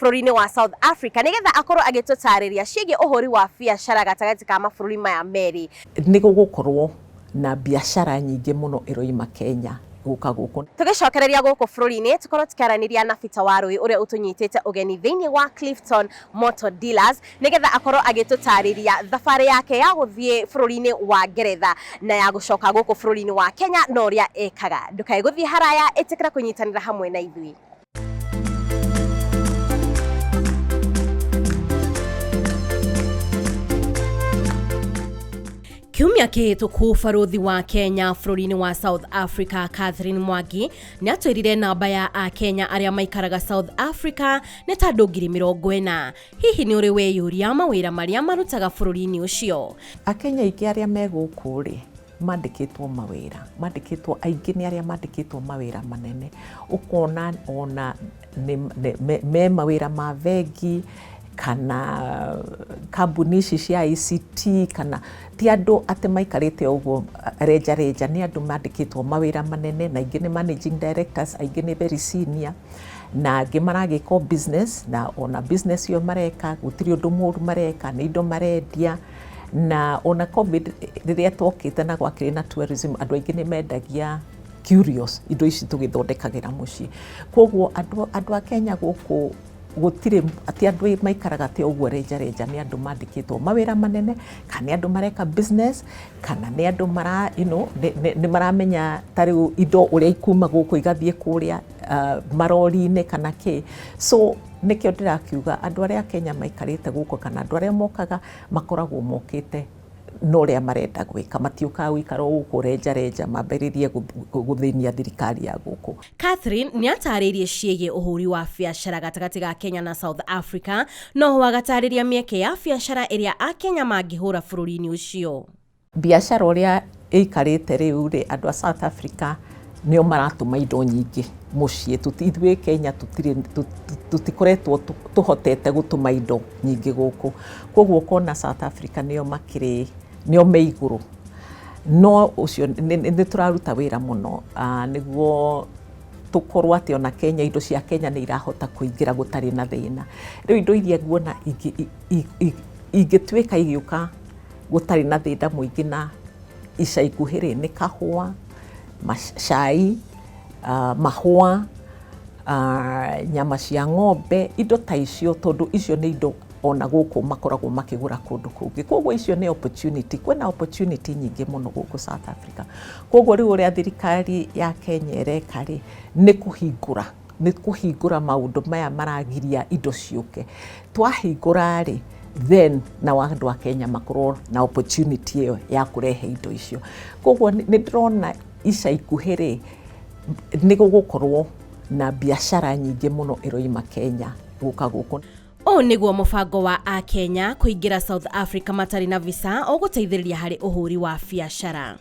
bũrũri-inĩ wa South Africa nĩ getha akorwo agĩtũtarĩria ciĩgiĩ ũhũri wa biacara gatagatĩ ka mabũrũri maya merĩ. Nĩ gũgũkorwo na biacara nyingĩ mũno ĩroima Kenya gũka gũkũ. Tũgĩcokereria gũkũ bũrũri-inĩ, tũkorwo tũkĩaranĩria na Peter Warũi ũrĩa ũtũnyitĩte ũgeni thĩinĩ wa Clifton Motor Dealers nĩ getha akorwo agĩtũtarĩria thabarĩ yake ya gũthiĩ bũrũri-inĩ wa Ngeretha na ya gũcoka gũkũ bũrũri-inĩ wa Kenya na ũrĩa ekaga. Ndũkae gũthiĩ haraya, ĩtĩkĩra kũnyitanĩra hamwe na ithuĩ. kiumia kĩhĩtũku barũthi wa kenya bũrũri-inĩ wa south africa catherine mwangi nĩ atwĩrire namba ya akenya arĩa maikaraga south africa nĩ ta andũ ngiri mĩrongo ĩna hihi nĩ ũrĩ weyũria mawĩra marĩa marutaga bũrũri-inĩ ũcio akenya aingĩ arĩa me gũkũ rĩ mandĩkĩtwo mawĩra, mandĩkĩtwo aingĩ nĩ arĩa mandĩkĩtwo mawĩra manene, ũkona ona me mawĩra ma bengi kana kambuni ici cia ICT kana ti andũ atĩ maikarĩte o ũguo renja renja, nĩ andũ mandĩkĩtwo mawĩra manene na aingĩ nĩ managing directors, aingĩ nĩ very senior na angĩ maragĩka o business na ona business ĩyo mareka gũtirĩ ũndũ mũru mareka, nĩ indo marendia. Na ona COVID rĩrĩa twokĩte na gwakĩrĩ na tourism, andũ aingĩ nĩ mendagia curios, indo ici tũgĩthondekagĩra mũciĩ. Kwoguo andũ, andũ a Kenya gũkũ gũtirĩ atĩ andũ maikaraga atĩ ũguo renja renja, nĩ andũ mandĩkĩtwo mawĩra manene, kana nĩ andũ mareka business, kana nĩ andũ mara, you know, nĩ maramenya ta rĩu indo ũrĩa ikuma gũkũ igathiĩ kũrĩa. marori-inĩ kana kĩĩ. So nĩkĩo ndĩrakiuga andũ arĩa a Kenya maikarĩte gũkũ kana andũ arĩa mokaga makoragwo mokĩte na ũrĩa marenda gwĩka. Matiũkaga gũikara o gũkũ renjarenja mambĩrĩrie gũthĩnia thirikari ya gũkũ. Catherine nĩ ataarĩirie ciĩgiĩ ũhũri wa biacara gatagatĩ ga Kenya na South Africa, no ho agataarĩria mĩeke ya biacara ĩrĩa Akenya mangĩhũra bũrũri-inĩ ũcio. Mbiacara ũrĩa ĩikarĩte rĩu rĩ, andũ a South Africa nĩo maratũma indo nyingĩ mũciĩ. Ithuĩ Kenya tũtikoretwo tũhotete gũtũma indo nyingĩ gũkũ. Kwoguo ũkona South Africa nĩo makĩrĩ, nĩo me igũrũ. No ũcio, nĩ tũraruta wĩra mũno nĩguo tũkorwo atĩ ona Kenya, indo cia Kenya nĩ irahota kũingĩra gũtarĩ na thĩna. Rĩu indo iria nguona ingĩtuĩka igĩũka... gũtarĩ na thĩna mũingĩ na ica ikuhĩ rĩ, nĩ kahũa, cai, mahũa, nyama cia ng'ombe, indo ta icio tondũ icio nĩ indo ona gũkũ makoragwo makĩgũra kũndũ kũngĩ. Kwoguo icio nĩ opportunity. Kwĩna opportunity nyingĩ mũno gũkũ South Africa. Kwoguo rĩu ũrĩa thirikari ya Kenya ĩreka rĩ, nĩ kũhingũra, nĩ kũhingũra maũndũ maya maragiria indo ciũke. Twahingũra-rĩ, then nao andũ a Kenya makorwo na opportunity ĩyo ya kũrehe indo icio. Koguo nĩ ndĩrona ica ikuhĩ-rĩ, nĩ gũgũkorwo na biacara nyingĩ mũno ĩroima Kenya gũka gũkũ. Ũũ nĩguo mũbango wa Akenya kũingĩra South Africa matarĩ na visa ũgũteithĩrĩria harĩ ũhũri wa biacara.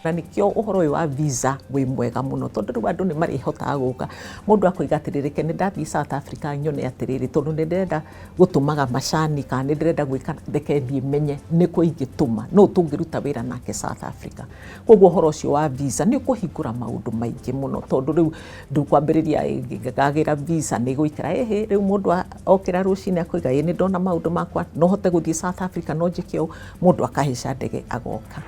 na nikio uhoro uyu wa visa wi mwega muno tondu riu andu ni marihotaga guka mundu akoiga atiriri ke ni ndathii South Africa nyone atiriri tondu ni ndirenda gutumaga macani kana ni ndirenda gwika reke thii menye ni ku ingituma no tungiruta wira nake South Africa koguo uhoro ucio wa visa ni kuhingura maundu maingi muno tondu riu ndukwambiriria ngagira visa ni guikara hihi riu mundu okira rucini akoiga ni ndona maundu makwa no hote guthii South Africa no njike u mundu akahica ndege agoka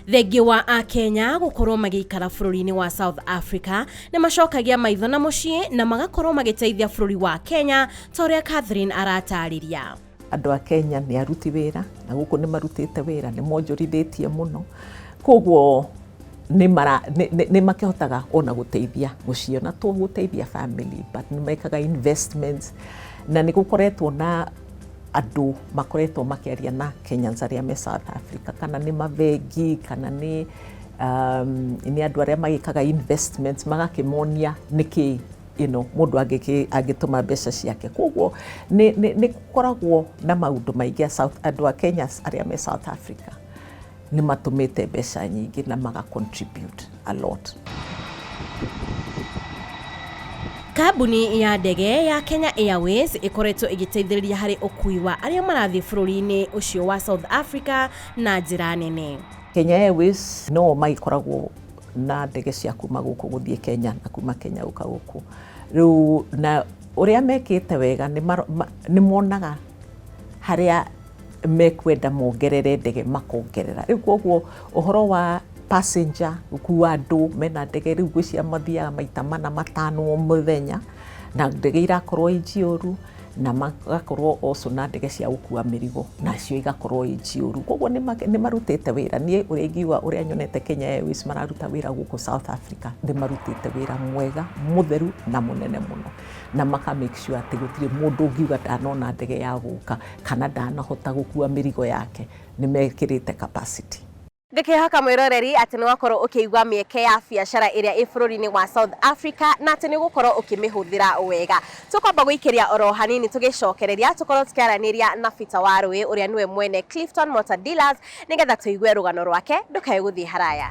thengiĩ wa akenya gũkorwo magĩikara bũrũri-inĩ wa south africa nĩ macokagia maitho na mũciĩ na magakorwo magĩteithia bũrũri wa kenya ta ũrĩa catherine aratarĩria andå a kenya nä aruti wä ra na gå kå nä marutä te wä ra nä monjorithä tie må no koguo nä makä hotaga ona gå teithia må ciä ona to gå teithia family but nä mekaga investments na nä gå koretwo na andũ makoretwo makĩaria na Kenyans arĩa me South Africa, kana nĩ mabengi, kana nĩ um, nĩ andũ arĩa magĩkaga investments magakĩmonia nĩkĩ you know, mũndũ angĩkĩ- angĩtũma mbeca ciake koguo nĩ nĩ- nĩ gũkoragwo na maũndũ maingĩ a South- andũ a Kenya arĩa me South Africa Nĩ matũmĩte mbeca nyingĩ na maga contribute a lot. Kambuni ya ndege ya Kenya Airways ĩkoretwo ĩgĩteithĩrĩria harĩ ũkui wa arĩa marathiĩ bũrũri-inĩ ũcio wa South Africa na njĩra nene. Kenya Airways no magĩkoragwo na ndege cia kuma gũkũ gũthiĩ Kenya na kuma Kenya gũka gũkũ. Rĩu na ũrĩa mekĩte wega nĩ monaga harĩa mekwenda mongerere ndege makongerera. Rĩu koguo ũhoro wa passenger gũkua andũ mena ndege rĩu gwĩcia mathiaga maita mana matano o mũthenya na ndege irakorwo i njioru na magakorwo also na ndege cia gũkua mĩrigo nacio igakorwo i njioru koguo nĩ ma- nĩ marutĩte wĩra niĩ ũrĩa ingiuga ũrĩa nyonete Kenya Airways mararuta wĩra gũkũ South Africa nĩ marutĩte wĩra mwega mũtheru na mũnene mũno na maka make sure atĩ gũtirĩ mũndũ ũngiuga ndanona ndege ya gũka Kana ndanahota gũkua mĩrigo yake nĩmekĩrĩte capacity. Ngakĩhaka mwĩroreri atĩ nĩ wakorwo ũkĩigua mĩeke ya biacara ĩrĩa ĩ bũrũri-inĩ wa South Africa na atĩ nĩ ũgũkorwo ũkĩmĩhũthĩra wega. Tũkwamba gũikĩria oro hanini tũgĩcokereria tũkorwo tũkĩaranĩria na Peter Warũĩ ũrĩa nĩwe mwene Clifton Motor Dealers nĩgetha tũigue rũgano rwake ndũkae gũthiĩ haraya.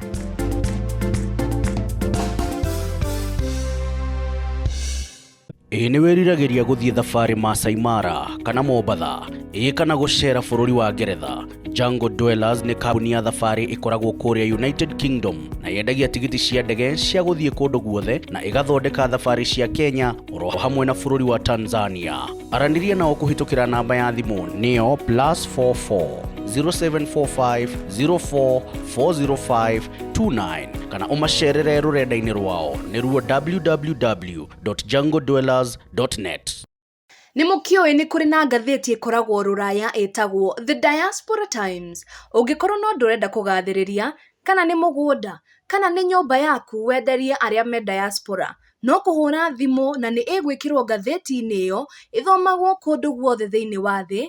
Ĩĩ nĩ wĩriragĩria gũthiĩ thabarĩ Maasai Mara kana Mombatha, ĩĩ kana gũceera bũrũri wa Ngeretha. Jungle Dwellers nĩ kambuni ya thabarĩ ĩkoragwo kũrĩa United Kingdom na yendagia tigiti cia ndege cia gũthiĩ kũndũ guothe na ĩgathondeka thabarĩ cia Kenya oro hamwe na bũrũri wa Tanzania. Aranĩria nao kũhĩtũkĩra namba ya thimũ nĩyo +44 0745 04 405 29 kana ũmacerere rũrenda-inĩ rwao nĩruo www www.jungledwellers.net. Nĩ mũkĩũĩ nĩ kũrĩ na ngathĩti ĩkoragwo rũraya ĩtagwo The Diaspora Times. Ũngĩkorwo no ndũrenda kũgathĩrĩria, kana nĩ mũgũnda, kana nĩ nyũmba yaku wenderie arĩa me diaspora, no kũhũra thimũ na nĩ ĩgwĩkĩrwo ngathĩti-inĩ ĩyo ĩthomagwo kũndũ guothe thĩinĩ wa thĩ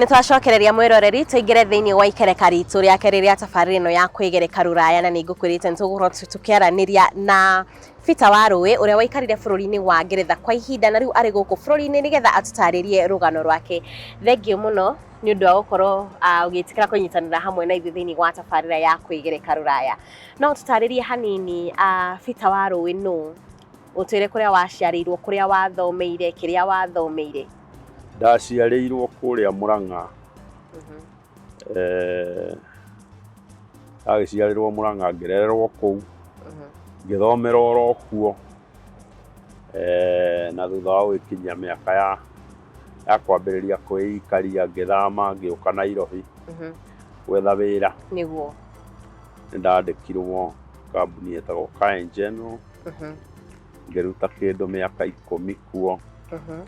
Nĩ twacokereria mwĩroreri tũingĩre thĩinĩ wa ikereka ritũ rĩa kerĩ rĩa tabarĩra ĩno ya kwĩgereka rũraya na nĩ ngũkwĩrĩte nĩ tũgũkorwo tũ- tũkĩaranĩria na Peter wa Rũĩ ũrĩa waikarire bũrũri-inĩ wa Ngeretha kwa ihinda na rĩu arĩ gũkũ bũrũri-inĩ nĩgetha atũtarĩrie rũgano rwake. Thengiũ mũno nĩ ũndũ wa gũkorwo ah, ũgĩtĩkĩra kũnyitanĩra hamwe na ithuĩ thĩinĩ wa tabarĩra ya kwĩgereka rũraya. No ũtũtarĩrie hanini ah, Peter wa Rũĩ nũ? Ũtwĩre kũrĩa waciarĩirwo, kũrĩa wathomeire, kĩrĩa wathomeire. Ndaciarĩirwo kũrĩa Mũrang'a. Mhm. Eh, Ndagĩciarĩrwo Mũrang'a ngĩrererwo kũu Mhm. ngĩthomera oro kuo Eh, na thutha wa gũgĩkinyia mĩaka ya ya kwambĩrĩria kwĩikaria ngĩthama ngĩũka Nairobi Mhm. gwetha wĩra Nĩguo. nĩ ndandĩkirwo kambuni ĩtagwo Kae General Mhm. ngĩruta kĩndũ mĩaka ikũmi kuo Mhm.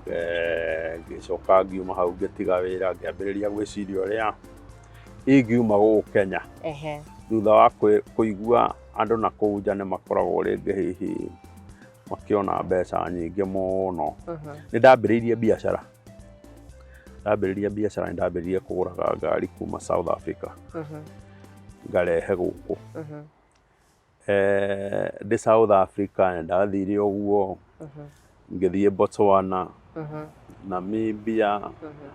Eh, ngĩcoka ngiuma hau ngĩtiga wĩra ngĩambĩrĩria gwĩciria ũrĩa ingiuma gũkũ Kenya Ehe. thutha wa kwĩ- kũigua andũ na kũu nja nĩ makoragwo rĩngĩ hihi makĩona mbeca nyingĩ mũno Mhm. nĩ ndambĩrĩirie biacara ndambĩrĩirie biacara nĩ ndambĩrĩirie kũgũraga ngari kuma South Africa Mhm. ngarehe gũkũ Mhm. Eh, ndĩ South Africa nĩ ndathire ũguo Mhm, ngĩthiĩ Botswana mhm, Namibia mhm.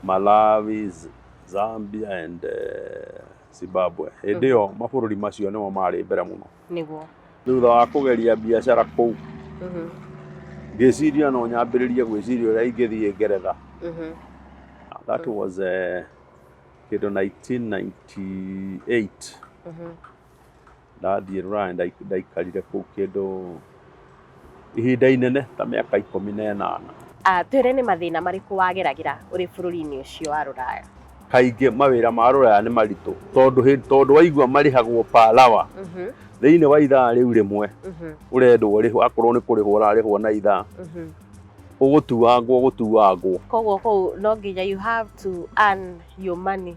Malawi Z- Zambia and eh, Zimbabwe hĩndĩ ĩyo mabũrũri macio nĩmo marĩ mbere mũno nĩguo thutha wa kũgeria biacara kũu Mhm, ngĩciria no nyambĩrĩrie gwĩciria ũrĩa ingĩthiĩ ngeretha mhm, that was eh, kĩndũ 1998 mhm. Ndathiĩ Rũraya ndaikarire kũu kĩndũ ihinda inene ta mĩaka ikũmi na ĩnana. Twĩre nĩ mathĩna marĩkũ wageragĩra ũrĩ bũrũri-inĩ ũcio wa Rũraya? Kaingĩ mawĩra ma Rũraya nĩ maritũ tondũ waigua marĩhagwo per hour. Thĩinĩ wa ithaa rĩu rĩmwe ũrendwo ũrĩhwo akorwo nĩ kũrĩhwo ũrarĩhwo na ithaa, ũgũtuangwo gũtuangwo. Koguo kũu no nginya you have to earn your money.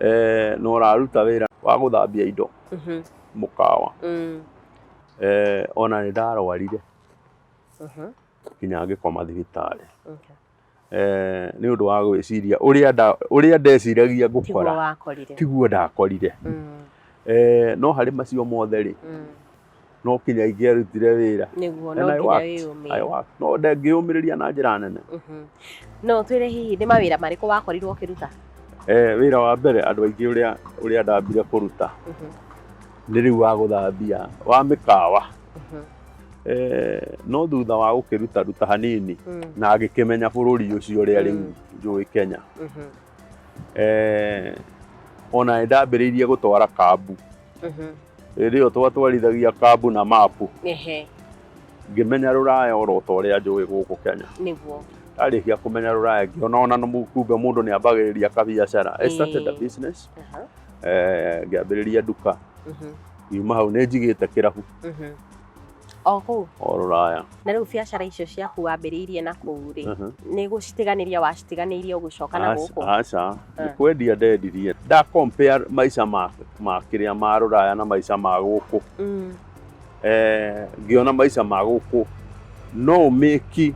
eh, na ũraruta wĩra wa gũthambia indo Mhm. mũkawa Mm. eh, ona nĩ ndarwarire Mhm. nginya ngĩkoma thibitarĩ Okay. eh, nĩ ũndũ wa gwĩciria ũrĩa nda- ũrĩa ndeciragia Tiguo ngũkora wakorire. tiguo ndakorire Mm. eh, no harĩ macio mothe rĩ Mm. no kinya ingĩarutire wĩra nĩguo And no I nginya worked. I wĩyũmĩe work. no ndengĩyũmĩrĩria na njĩra nene Mhm. no twĩre hihi nĩ mawĩra marĩkũ wakorirwo ũkĩruta eh, wĩra wa mbere andũ aingĩ ũrĩa ũrĩa ndambire kũruta Mhm, nĩ rĩu wa gũthambia wa mĩkawa mhm, eh, no thutha wa gũkĩruta ruta hanini mm, na ngĩkĩmenya bũrũri ũcio ũrĩa rĩu Mm. njũĩ Kenya mhm. eh, ona nĩ ndambĩrĩirie gũtwara kambu Mhm. hĩndĩ ĩyo twatwarithagia kambu na mapu Ehe, ngĩmenya rũraya oro ta ũrĩa njũĩ gũkũ kenya nĩguo. ndarĩkia kũmenya rũraya ngĩona ona nĩ mu- kumbe mũndũ nĩ ambagĩrĩria kabiacara I started a Ĩĩ. business Aha, eh, ngĩambĩrĩria nduka mhm, yuma hau nĩ njigĩte kĩrabu mhm, o kũu o rũraya na rĩu biacara icio ciaku wambĩrĩirie na kũu rĩ Mhm. nĩ gũcitiganĩria wacitiganĩirie ũgĩcoka na Aca- gũkũ aca nĩ Eh. kwendia ndendirie nda compare maica ma ma kĩrĩa ma rũraya na maica ma gũkũ Mm, Eh, ngĩona maica ma gũkũ no ũmĩki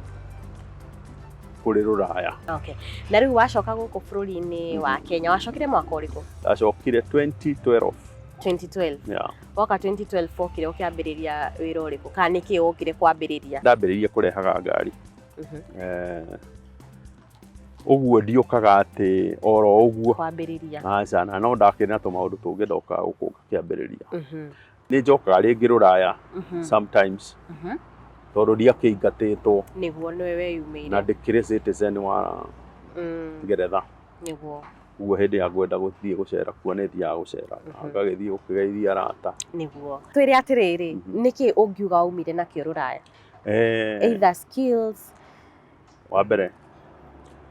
kũrĩ rũraya okay. na rĩu wacoka gũkũ bũrũri-inĩ wa kenya wacokire mwaka ũrĩkũ ndacokire 2012 2012 yeah. Waka 2012 wokire ũkĩambĩrĩria wĩra ũrĩkũ kana nĩ kĩĩ wokire kwambĩrĩria? Ndambĩrĩirie kũrehaga ngari Mhm. Eh, ũguo ndiũkaga atĩ oro ũguo Kwambĩrĩria. aca na no ndakĩrĩ na tũmaũndũ tũngĩ ndokaga gũkũ ngakĩambĩrĩria Mhm. nĩ njokaga rĩngĩ rũraya Mhm. sometimes Mhm. tondũ ndiakĩingatĩtwo Nĩguo nĩwe na weyumĩire. ndĩkĩrĩ citizen wa Mm. ngeretha nĩguo koguo hĩndĩ ya ngwenda gũthiĩ gũcera kuo nĩ thiaga gũcera Mhm. ngagĩthiĩ gũkĩgeithia arata nĩguo twĩre atĩrĩrĩ Mhm. nĩkĩ ũngiuga waumire nakĩo rũraya Eh, either skills wa mbere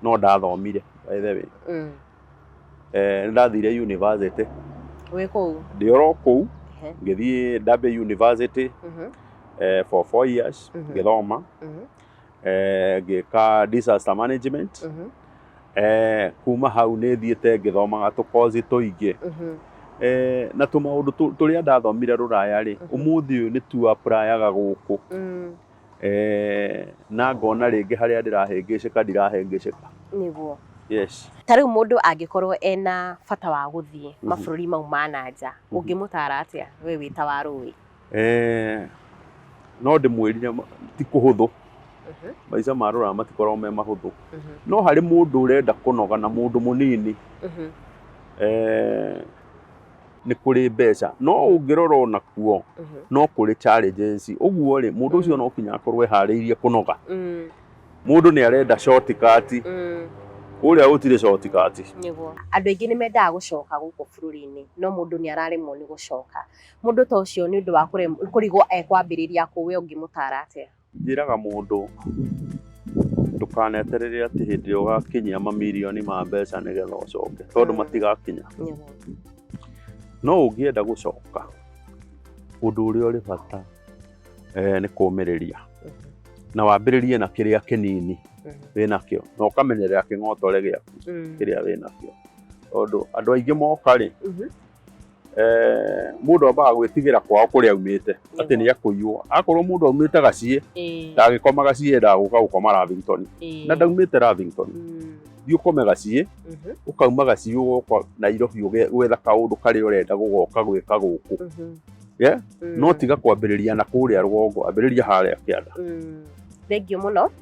no ndathomire by the way mm. Eh, nĩ ndathire university wĩ kũu ndĩ oro kũu Ehe. ngĩthiĩ ndambia university Mhm, eh, for four years Mhm. ngĩthoma mhm. eh, ngĩka disaster management Mhm, eh, kuma hau nĩ thiĩte ngĩthomaga tũkozi tũingĩ mhm, eh, na tũmaũndũ tũ- tũrĩa ndathomire rũraya rĩ Mhm. ũmũthĩ ũyũ nĩ tu aprayaga gũkũ mm, eh, na ngona rĩngĩ harĩa ndĩrahĩngĩcĩka ndirahĩngĩcĩka nĩguo yes ta rĩu mũndũ angĩkorwo ena bata wa gũthiĩ Mhm. mabũrũri mau ma na nja Mhm. ũngĩmũtara atĩa we wĩ ta wa rũĩ Eh, no ndĩmwĩrire ma- ti kũhũthũ Mhm. maica ma rũraya matikoragwo me mahũthũ Mhm. no harĩ mũndũ ũrenda kũnoga na mũndũ mũnini Mhm. eh, nĩ kũrĩ mbeca no ũngĩrora o nakuo Mhm. no kũrĩ challenges ũguo rĩ mũndũ ũcio no kinya akorwo eharĩirie kũnoga Mm. mũndũ nĩ arenda shortcut Mm. kũrĩa gũtirĩ shortcut Nĩguo. Andũ aingĩ nĩ mendaga gũcoka gũkũ bũrũri-inĩ no mũndũ nĩ araremwo nĩ gũcoka. Mũndũ ta ũcio nĩ ũndũ wa kũrigwo ekwambĩrĩria kũ we ũngĩmũtara atĩa? Njĩraga mũndũ ndũkaneterere atĩ hĩndĩ ĩrĩa ũgakinyia mamirioni ma mbeca nĩgetha ũcoke tondũ mm. matigakinya. No ũngĩenda gũcoka ũndũ ũrĩa ũrĩ bata eh, nĩ kũmĩrĩria mm-hmm. na wambĩrĩrie na kĩrĩa kĩnini mm-hmm. wĩnakĩo na ũkamenyerera kĩng'otore gĩaku mm. kĩrĩa wĩnakĩo tondũ andũ aingĩ moka rĩ mm-hmm. eh, mundu ambaga gwitigira kwao kuria aumite ati ni akuiywo akorwo mundu aumite gacie Eh, ndagikoma gacie endaga guka gukoma Lavington eh, na ndaumite Lavington mm, thiĩ ũkome gacie mhm, ũkauma gacie ũgoka Nairobi ũge- gwetha kaũndũ karĩa ũrenda gũgoka gwĩka gũkũ mhm, Yeah, mm, no tiga kwambĩrĩria na kũrĩa rũgongo ambĩrĩria harĩa kĩanda mm. thengiũ mũno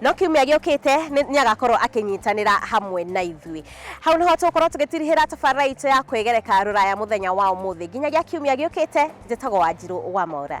No kiumia gĩũkĩte nĩ nĩ agakorwo akĩnyitanĩra hamwe na ithuĩ. Hau nĩho tũgũkorwo tũgĩtirihĩra tabarĩra itũ ya kwĩgereka rũraya mũthenya wa ũmũthĩ. Nginyagia kiumia gĩũkĩte, njĩtagwo Wanjirũ wa Maura.